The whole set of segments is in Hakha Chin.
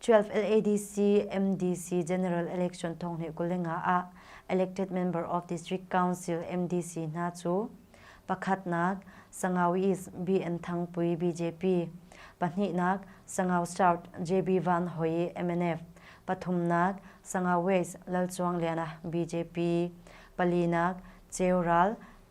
12 LADC MDC General Election thong he kulenga a elected member of District Council MDC hna chu pakhatnak Sangawi East BN Thangpui BJP pahnihnak Sangau South JB Van Hoi MNF pathumnak Sangau West Lal Chuang Liana BJP palinak Cheural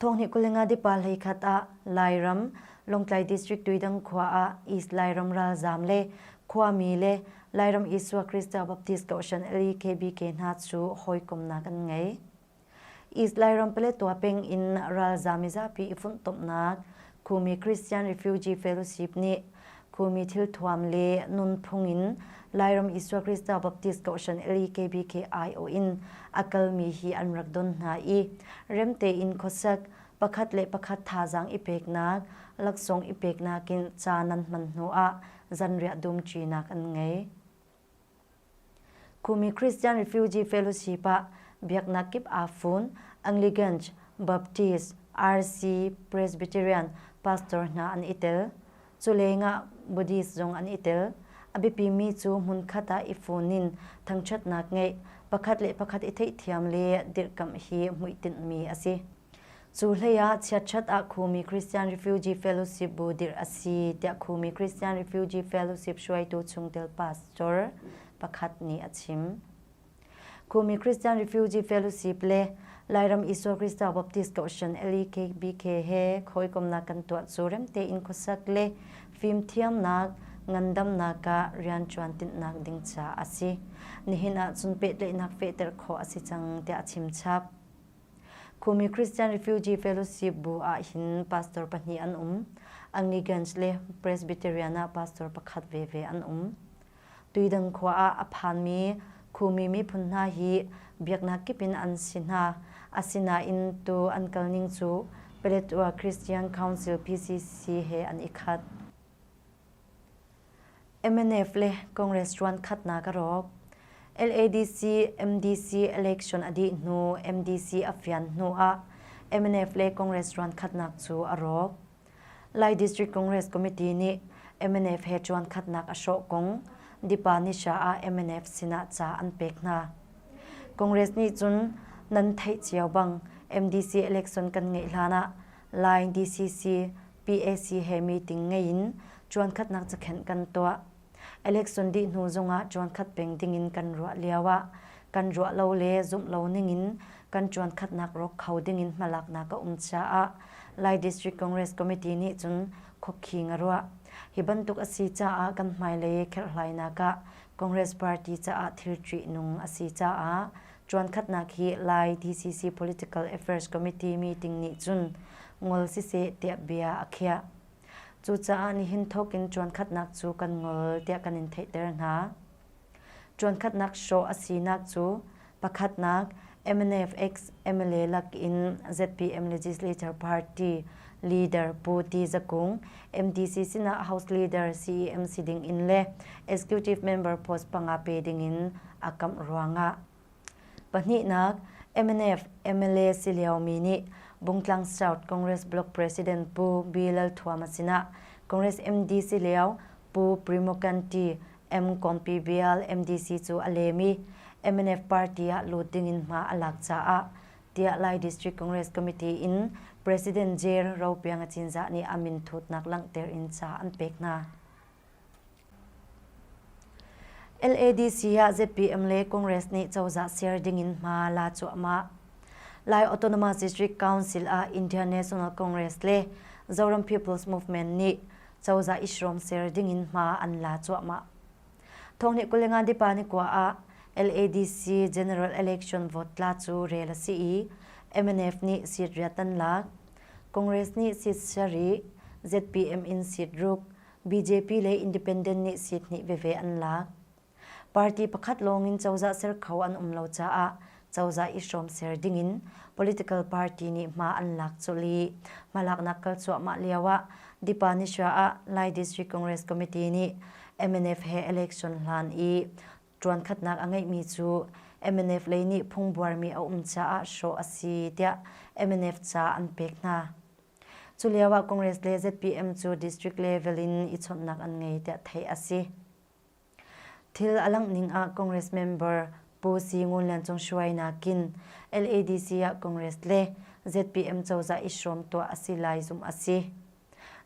Thonghnih kulinga dipa hleikhat ah Lairam Lawngtlai District tuidang khua ah East Lairam ralzaam le khuami le Lairam Isua Krista Baptist Kohhran LEKBK hna cu hawikomnak an ngei. East Lairam Paletwa peng in ralzaam i zapi i funhtomhnak Khumi Christian Refugee Fellowship nih khumi thilthuam le nunphung in Lairam Isua Krista Baptist Kohhran LEKBKIO in a kalmi hi an rak don hna i remte in khuasak pakhat le pakhat thazaang i peknak laksawng i peknak in ca nan hman hnu ah zanriah dum ṭinak an ngei. Kumi Christian Refugee Fellowship ah biaknak kip aa fun. Anglicans, Baptist, RC, Presbyterian pastor hna an i tel. Culeng ah Buddhist zong an i tel. A biapimi cu hmunkhat ah i fun in thangṭhatnak ngeih, pakhat le pakhat i theihthiam le dirhkamh hi hmuitinh mi a si. Cu hleiah chiatṭhat ah Khumi Christian Refugee Fellowship bu dirh a si tiah Khumi Christian Refugee Fellowship hruaitu chungtel pastor pakhat nih a chim. Khumi Christian Refugee Fellowship le Lairam Isua Krista Baptist Kohhran LEKBK he khawikomnak kan tuah cu remte in khuasak le fimthiamnak ngandamnak ah rianṭuan tinhnak ding ca a si. Nihin ah cun pehtlaihnak fehter khawh a si cang tiah a chimchap. Khumi Christian Refugee Fellowship bu ah hin pastor pahnih an um. Angligans le Presbyterian ah pastor pakhat veve an um. Tuidang khua ah a phanmi Khumi miphun hna hi biaknak kip in an si hna. Asinain tu an kalning cu Paletwa Christian Council PCC he an i khat. mnf le congress ruankhat na ka rawk ladc mdc election a dih hnu mdc a fian hnu ah mnf le congress ruankhatnak cu a rawk lai district congress committee nih mnf he ruankhatnak a hrawh kong dipa nisha ah mnf sinah ca an pek hna congress nih cun nan theih cio bang mdc election kan ngeih hlan ah Lai DCC PAC he meeting ngei in ṭuankhatnak cakhenh kan tuah. Election dih hnu zongah ṭuankhat peng dingin kan ruah lioah kan ruah lo le zumh lo ningin kan ṭuankhatnak rawk kho dingin hmalaknak a um caah Lai District Congress Committee nih cun khuakhi nga ruah. Hi bantuk a si caah kan hmailei kherhlainak ah Congress party caah thil ṭih nung a si caah Ṭuankhatnak hi Lai DCC Political Affairs Committee meeting nih cun ngol siseh tiah bia a khiah. Cucaah nihin thawk in ṭuankhatnak cu kan ngol tiah kan in theihter hna. Ṭuankhatnak hrawh a sinak cu pakhatnak MNF-ex mla lak in ZPM Legislature Party leader Pu Ti Za Kung, MDC sinah House Leader CEM si ding in le Executive Member post panga pe ding in a kamh ruangah pahnihnak mnf mla si liomi nih Bungtlang South Congress Block President Pu Bill Lalthuama sinah Congress MD si lio Pu Primo Canti M-Compi Bial MDC cu a lem i mnf party ah lut dingin hma a lak caah tiah Lai District Congress Committee in President Jair Ropiang a cinzah nih a min thutnak langhter in ca an pek hna. LADC ah ZPM le Congress nih cozah ser dingin hma la cuahmah. Lai Autonomous District Council ah Indian National Congress le Zoram People's Movement nih cozah ishrom ser dingin hma an la cuahmah. Thong nih kulengan dipa ni kwa ah LADC General Election vote tla cu rel a si i MNF nih seat riatan lak. Congress nih seat sari, ZPM in seat ruk, BJP le Independent nih seat hnih veve an lak. Party pakhat lawngin cozah ser kho an um lo caah cozah i hrawm ser dingin political party nih hma an lak colh i hmalaknak kal cuahmah lioah Dipanisha ah Lai District Congress Committee nih MNF he election hlan i ṭuankhatnak a ngeihmi cu MNF lei nih phungbuarmi a um caah hrawh a si tiah MNF ca an pek hna. Culio ah Congress le ZPM cu district level in i chawnhnak an ngei tiah theih a si. Thil a langh ning ah Congress member Pu Si Ngun Lian Cung Shuai nakin LADC ah Congress le ZPM cozah i hrawm tuah a si lai zumh a si.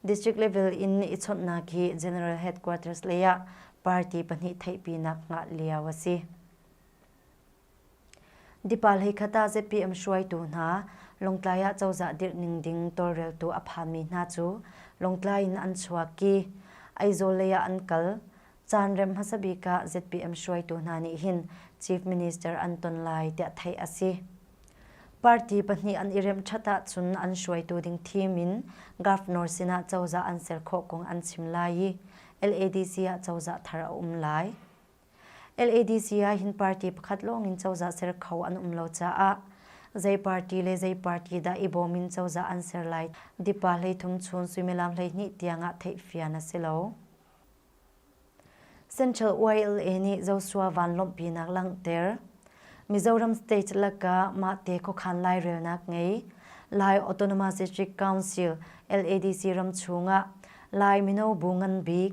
District level in i chawnhnak hi General Headquarters lei ah party pahnih theihpinak ngah lio a si. Dipa hleikhat ah zapi um hruaitu hna, Lawngtlai ah cozah dirh ning ding tawlreltu a phanmi hna cu Lawngtlai in an chuak i Aizawl lei ah an kal. Caanrem hmasa bik ah ZPM hruaitu hna nih hin Chief Minister an ton lai tiah theih a si. Party pahnih an i remh ṭhat ahcun an hruaitu ding thim in Governor sinah cozah an ser khawh kong an chim lai i LADC ah cozah thar a um lai. LADC ahhin party pakhat lawngin cozah ser kho an um lo caah zei party le zei party dah i bawm in cozah an ser lai tipa hleithum chun suimilam hleihnih tiangah theihfian a si lo. Central YLA nih Joshua vanlawmhpinak langhter. Mizoram state laka mah te khokhan lai relnak ngei. Lai Autonomous District Council LADC ram chungah Lai mino bu ngan bik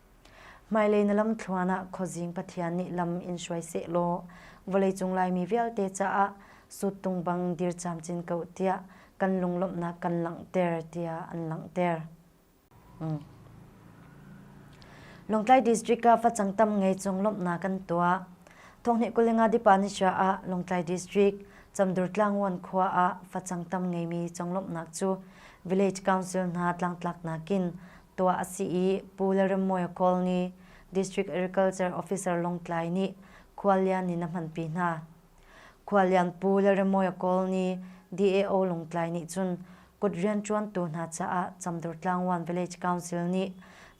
Hmailei na lamthluan ah khuazing Pathian nih lam in hruai seh law vawleicung Laimi vialte caah suttung bang dir camcin ko tiah kan lunglawmhnak kan langhter tiah an langhter. Longtlai district ah facang tam ngei cung lawmhnak kan tuah. Thonghni kulinga dipa ni sha ah Longtlai district Chamdur Tlangwan khua ah facang tam ngeimi conglawmhnak cu Village Council hna tlangtlak nakin tuah a si i Pu Lalremmawi Kawl nih District Agriculture Officer Lawngtlai nih khuallian in a hmanpi hna. Khuallian Pu Lalremmawi Kawl nih DAO Lawngtlai nih cun kut rianṭuantu hna caah Camdurtlaangwan Village Council nih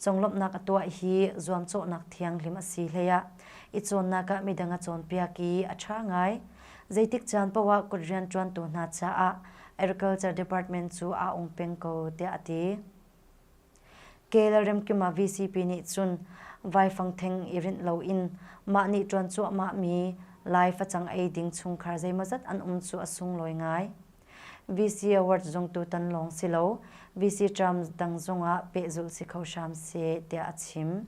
conglawmhnak a tuah hi zuamcawhnak thianghlim a si hlei ah i cawnnak ah midang a cawnpiak i a ṭha ngai. Zeitik caan paoh ah kut rianṭuantu hna caah Agriculture Department cu aa ung peng ko tiah a ti. ke lalremkima vcp nih cun vaifangtheng i rinh loin mah nih ṭuan cuahmahmi lai facang ei ding chungkhar zeimawzat an um cu a sunglawi ngai. VC Award zung tutan lawng si lo, VC Terms dang zungah pehzulh si kho hram seh tiah a chim.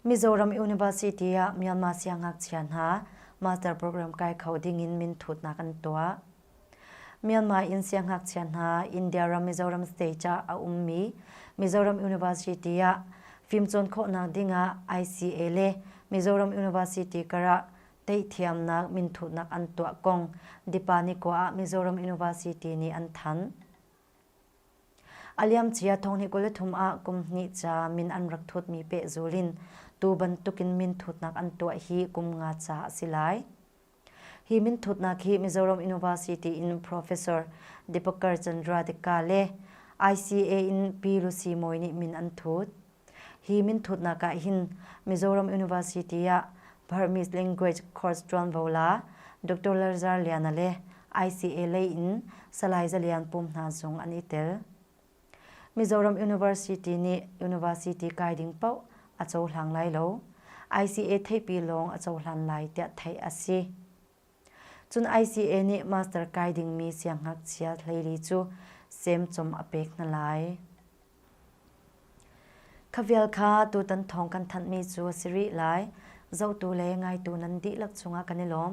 Mizoram University ah Myanmar siangngakchia hna master program kai kho ding in min thutnak an tuah. Myanmar in siangngakchia hna India ram Mizoram state ah a ummi Mizoram University ah fimcawn khawhnak ding ah ICA le Mizoram University karah teihthiamnak minthutnak an tuah kong Dipani khua ah Mizoram University nih an thanh. A liamcia thonghnih kul le thum ah kum hnih ca min an rak thutmi pehzul in tu bantukin minthutnak an tuah hi kum nga ca a si lai. Hi minthutnak hi Mizoram University in Professor Deepankar Chandra Dekka le ICA in Pi Lucy Mawi nih min an thut. Hi minthutnak ah hin Mizoram University ah Burmese Language Course ṭuanvo la Doctor Larzar Liana le ICA lei in Salai Za Lian Pum hna zung an i tel. Mizoram University nih university kai ding paoh a cohlang lai lo. ICA theihpi lawng a cohlan lai tiah theih a si. Cun ICA nih Master kai dingmi siangngakchia hleili cu semcom a pek hna lai. Kha vial kha tutan thawng kan thanhmi cu a si rih lai. Zotu le ngaitu nan dihlak cungah kan i lawm.